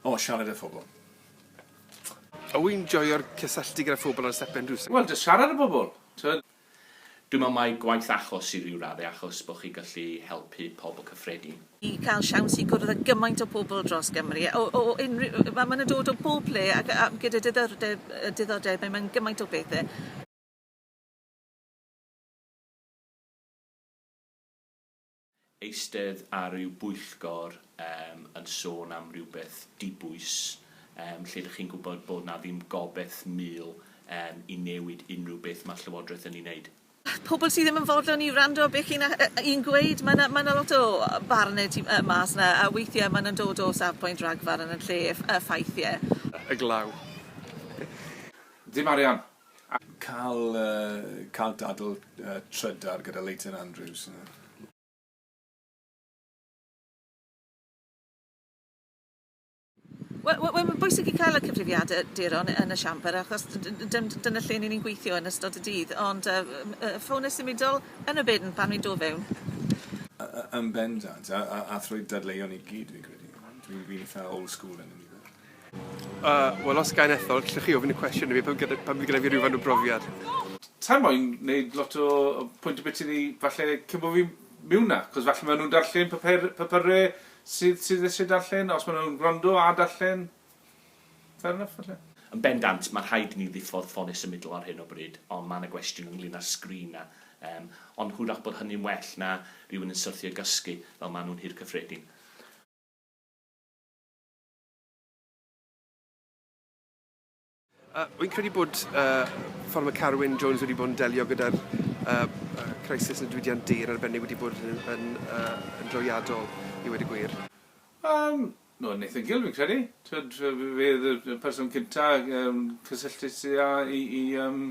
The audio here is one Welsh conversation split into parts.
O, siarad â phobl. O, wi'n joio'r cysylltu gyda phobl ar y stepen drws. Wel, jyst siarad â pobl, t'mod? Dwi'n meddwl mai gwaith achos i ryw radde achos bod chi gallu helpu pobl cyffredin. I cael siawns i gwrdd â gymaint o pobl dros Gymru o o unrhyw yy ma' ma' nhw'n dod o bob ple ac a gyda diddordeb yy diddordebau mewn gymaint o bethe. eistedd ar ryw bwyllgor yym yn sôn am rywbeth dibwys yym lle dych chi'n gwybod bod 'na ddim gobeth mul yym i newid unrhyw beth ma'r Llywodraeth yn ei wneud. Pobl sydd ddim yn fodlon i wrando beth chi'n a- yy i'n gweud ma' 'na ma' 'na lot o barne tu yy mas 'na a weithie ma' nw'n dod o safbwynt ragfarn yn lle ff- yy ffaith ie. Y glaw. Dim arian. Cael cael dadl trydar gyda Leighton Andrews yna. Wel wel wel mae'n bwysig i cael y cyfrifiade duron yn y siambr achos d- d- d- d- dyna lle ni'n ni'n gweithio yn ystod y dydd ond yy m- yy ffones symudol yn y bin pan wi'n do' fewn. Y- y- yn bendant a a a thrwy dadleuon i gyd fi'n credu. Dwi'n fi'n itha old school yn ynny fe. Uh, wel os gain ethol, gallwch chi ofyn y cwestiwn i fi pan gyda, pan fydd gyda fi rhywfaint o brofiad. Sa i moyn neud lot o pwynt y byti ni falle cyn bo fi'n miwn na, cos falle ma nhw'n darllen papur, papyre sydd sydd isie darllen, os ma nhw'n gwrando a darllen, fair enough falle. Yn bendant, mae rhaid i ni ddiffodd ffonau symudol ar hyn o bryd, ond mae yna gwestiwn ynglyn â'r sgrin 'na. Yym, ond hwyrach bod hynny'n well na rhywun yn syrthio i gysgu, fel maen nhw'n Nhŷ'r Cyffredin. Uh, wy'n credu bod uh, ffordd mae Carwyn Jones wedi bod yn delio gyda'r uh, crisis yn y diwydiant di yn arbennig wedi bod yn, yn, uh, yn droiadol i wedi gwir. Um, no, Nathan Gill fi'n credu. Twyd, fe y person cynta um, cysylltu i, i um,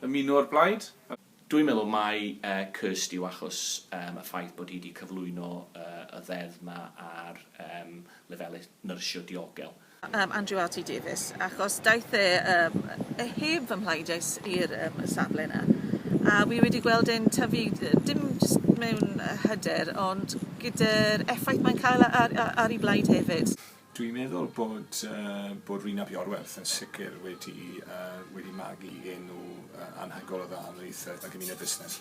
ymuno o'r blaid. Dwi'n meddwl mai curst yw achos y ffaith bod hi wedi cyflwyno y ddeddf yma ar lefelau nyrsio diogel. Andrew RT Davies, achos daeth e heb fy mhlaid es i'r safle yna a wi wedi gweld e'n tyfu dim jyst mewn hyder ond gyda'r effaith mae'n cael ar 'i blaid hefyd. Dwi'n meddwl bod bod Rhun ap Iorwerth yn sicr wedi wedi magu enw anhygoel o dda ymhlith y gymuned fusnes.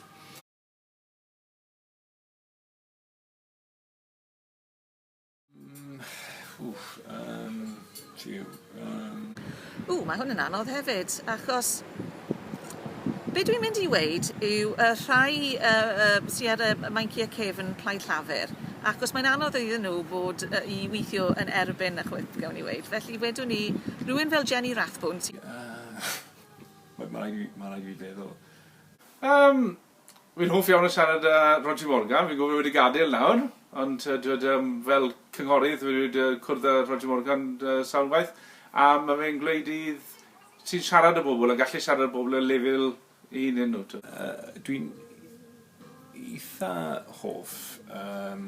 Wff, yym, jiw, yym. Ww, mae hwn yn anodd hefyd, achos be dwi'n mynd i weud yw y rhai sy ar y Meincie Cefn Plaid Llafur, achos mae'n anodd iddyn nhw fod i weithio yn erbyn y chwip, gawn ni weud, felly wedwn i rywun fel Jenny Rathbone sy... Mae rhaid i fi feddwl. Yym. Wi'n hoff iawn o siarad â Roger Morgan, fi'n gwybod bod e wedi gadael nawr, ond yy t'wod yym fel cynghorydd wi wedi yy cwrdd â Roger Morgan yy sawl gwaith a ma' fe'n gwneud i dd- ti'n siarad â bobl a gallu siarad â bobl ar lefel 'u hunen nhw t'wod. Yy dwi'n eitha hoff yym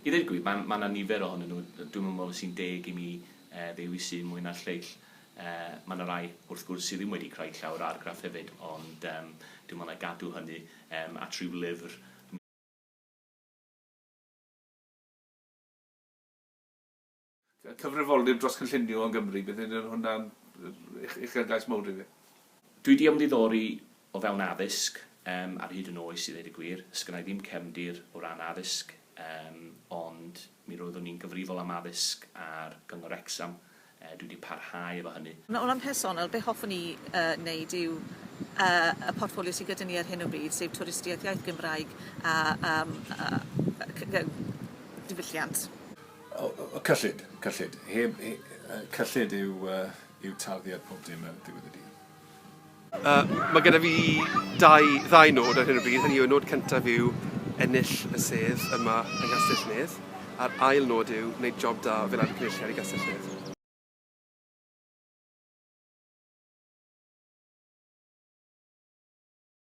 I ddeud y gwir, mae mae 'na nifer ohonyn nhw, dwi'm yn meddwl sy'n deg i mi yy ddewisu'u mwy na'r lleill. Yy mae 'na rai, wrth gwrs, sydd ddim wedi creu llawr argraff hefyd, ond yym dwi'n meddwl na gadw hynny yym at ryw lyfr, Cyfrifoldeb dros cynllunio yng Nghymru, bydd hyn yn hwnna'n uchelgais mowr i fi. Dwi 'di ymddiddori o fewn addysg yym ar hyd yn oes i ddeud y gwir. Sgynna i ddim cefndir o ran addysg yym ond mi roeddwn i'n gyfrifol am addysg ar Gyngor Wrecsam, dwi 'di parhau efo hynny. O ran personol, be hoffwn i yy neud yw yy y portffolio sy gyda ni ar hyn o bryd, sef twristiaeth, iaith Gymraeg a yym yy yy diwylliant. O, o, cyllid, cyllid. Heb, he, cyllid yw, uh, yw tarddiad pob dim ar ddiwedd y dydd. Uh, mae gyda fi dau, ddau nod ar hyn o bryd. Hynny yw, nod cyntaf yw ennill y sedd yma yng Nghastell Nedd, a'r ail nod yw wneud job da fel ar y cynulliad i Gastell Nedd.